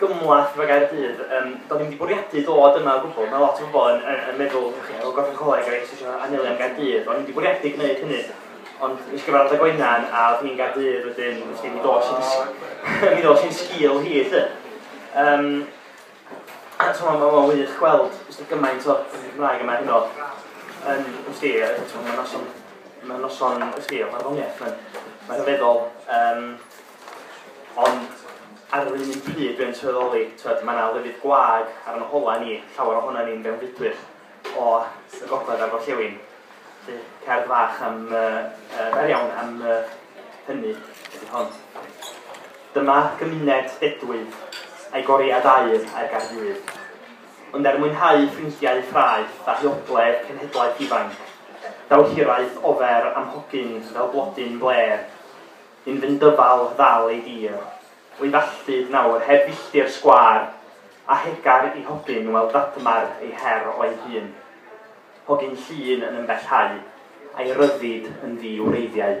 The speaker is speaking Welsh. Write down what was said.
gymhleth efo Gaerdydd. Um, do'n i'n wedi bwriadu dod yma o gwbl. Mae lot o bobl yn, yn, yn meddwl, o gorffen coleg a eisiau eisiau anelu am Gaerdydd. Do'n i'n wedi bwriadu gwneud hynny. Ond nes gyfarfod â Gwenan a oedd hi'n Gaerdydd wedyn, nes gen i ddod sy'n mi ddod sy'n sgil hi, lle. Um, a ti'n meddwl, mae'n wych gweld, ysdi gymaint o Gymraeg yma hyn o. Um, ysdi, ti'n meddwl, mae'n noson, mae'n noson, ysdi, mae'n ddoniaeth, mae'n rhyfeddol. Um, Ond ar yr un pryd dwi'n sylweddoli, tywed, mae yna lefydd gwag ar yn holau ni, llawer ohono ni'n fewnfudwyr o y gogledd a'r gorllewin. Felly, cerdd fach am, uh, uh, fer iawn am uh, hynny ydy hon. Dyma gymuned dedwydd, a'i goriad aur a'r gardydd. Ond er mwynhau ffrindiau ffraeth a hiogledd cenhedlaeth ifanc, daw hiraeth ofer am hogyn fel blodyn bler Yn fy ndyfal ddal ei dir. O'i falltud nawr heb filltir sgwâr, a hegar i hogyn wel ddadmar ei her o'i hun. Hogyn llun yn ymbellhau, a'i ryddid yn ddi wreiddiau.